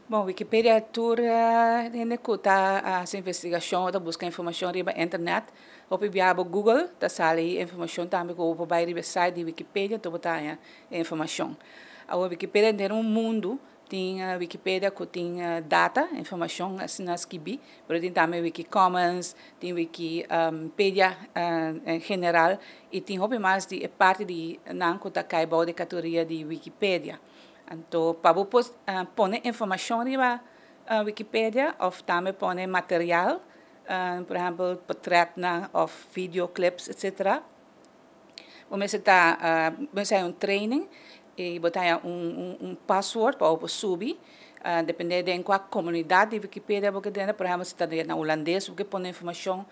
Bon Wikipedia tur hende ku ta hasi investigashon o ta buska informashon riba internet hopi bia bo Google ta sali e informashon tambe ku bo por bai riba e site di Wikipedia enton bo ta haña e informashon. Awe Wikipedia henter un mundu tin Wikipedia ku tin data informashon asina skibi pero tin tambe Wikicommons tin Wiki pedia en general i tin hopi mas di e parti di nan ku ta kai bou di e katoria di Wikipedia. Anto pa bo por pone informashon riba Wikipedia òf tambe pone material, por ehèmpel potrètnan òf vidio clips etsetera, bo mester ta bo mester haña un training i bo ta haña un pasword pa bo por subi depende den kua komunidat di Wikipedia bo ke denda, por ehèmpel si ta den na Hulandes bo ke pone informashon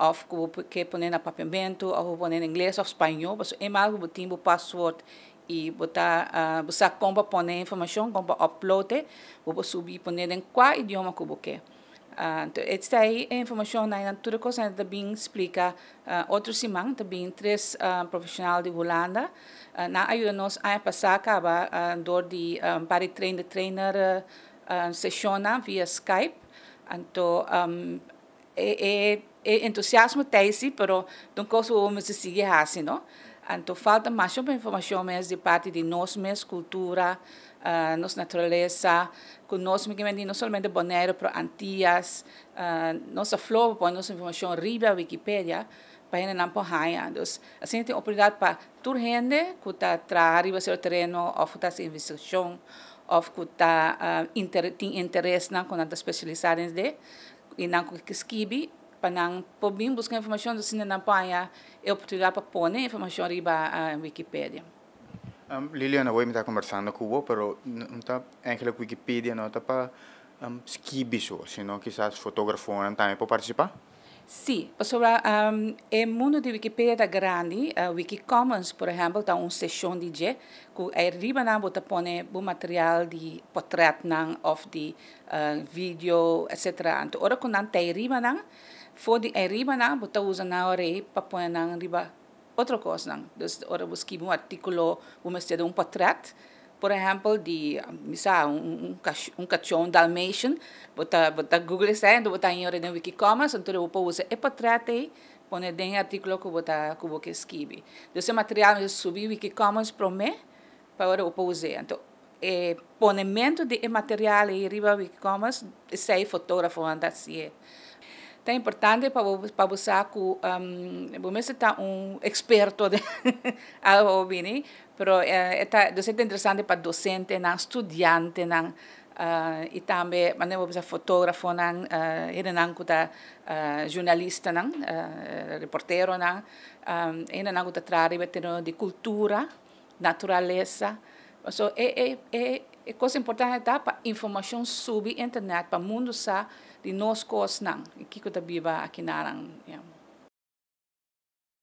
òf ku bo ke pone na papiamentu òf bo pone na ingles òf spañó pasobra eenmaal ku bo tin bo pasword Y bo ta bo sa con pa pone e informacion, con pa upload e, bo por subi pone den cua idioma cu bo ke. Entonces estai e informacion nan y tur e cos nan ta bin splica otro siman, ta bin tres profesional di Hulanda, nan a yuda nos aña pasa caba door di un par di trainer trainer session nan via skype, anto. E entusiasmo ta esi pero ta un kos ku bo mester sigui hasi no, anto falta mas hopi informashon mes di parti di nos mes kultura, nos naturalesa, ku nos mi kemen di no solamente boneiru pero antias, nos a flor pa pone nos informashon riba wikipedia pa hendenan por haña, dus asina tin oportunidat pa Tur hende ku ta traha riba sero tereno òf ku ta hasi investigashon òf ku ta tin interesnan ku nan ta spesialisá den esei i nan ku ke skibi pa nan por bin buska informashon asina nan por haña e oportunidat pa pone e informashon riba Wikipedia. Liliana, awor mi ta kombersando ku bo, pero no ta èinklik Wikipedia no ta pa skibi so, sino kisas fotografonan tambe por partisipá? Sí, pasobra e mundu di Wikipedia ta grandi, Wikicommons por ehèmpel ta un seshon di dje ku ei riba nan bo ta pone bo material di potrètnan òf di video etsetera. Anto ora ku nan ta ei riba nan, for di ei riba nan bo ta usa nan rei pa pone nan riba Otro kosnan, dus ora bo skibi un artikulo bo mester duna un potrèt, por ehèmpel di, mi sa, un kachó, un dalmatian, bo ta bo ta google esei enton bo ta haña ora den wikicommons entonces bo por usa e potrèt ei pone den e artikulo ku bo ta ku bo ke skibi. Dus e material mester subi wikicommons promé Pa ora opo us'é. Anto e ponementu di e material ei riba Wikicommons esei fotografonan ta hasié. Ta importante pa bo pa bo sa ku bo mester ta un eksperto den algo bo bini, pero e ta e ta interesante pa dosentenan, studiantenan i tambe bo bisa fotografonan, hendenan ku ta zhurnalistanan, reporteronan, hendenan ku ta traha riba e tereno di kultura. Naturalesa. So e e kos importante ta pa informashon subi internet pa mundu sa di nos kosnan i kiko ta biba aki naran.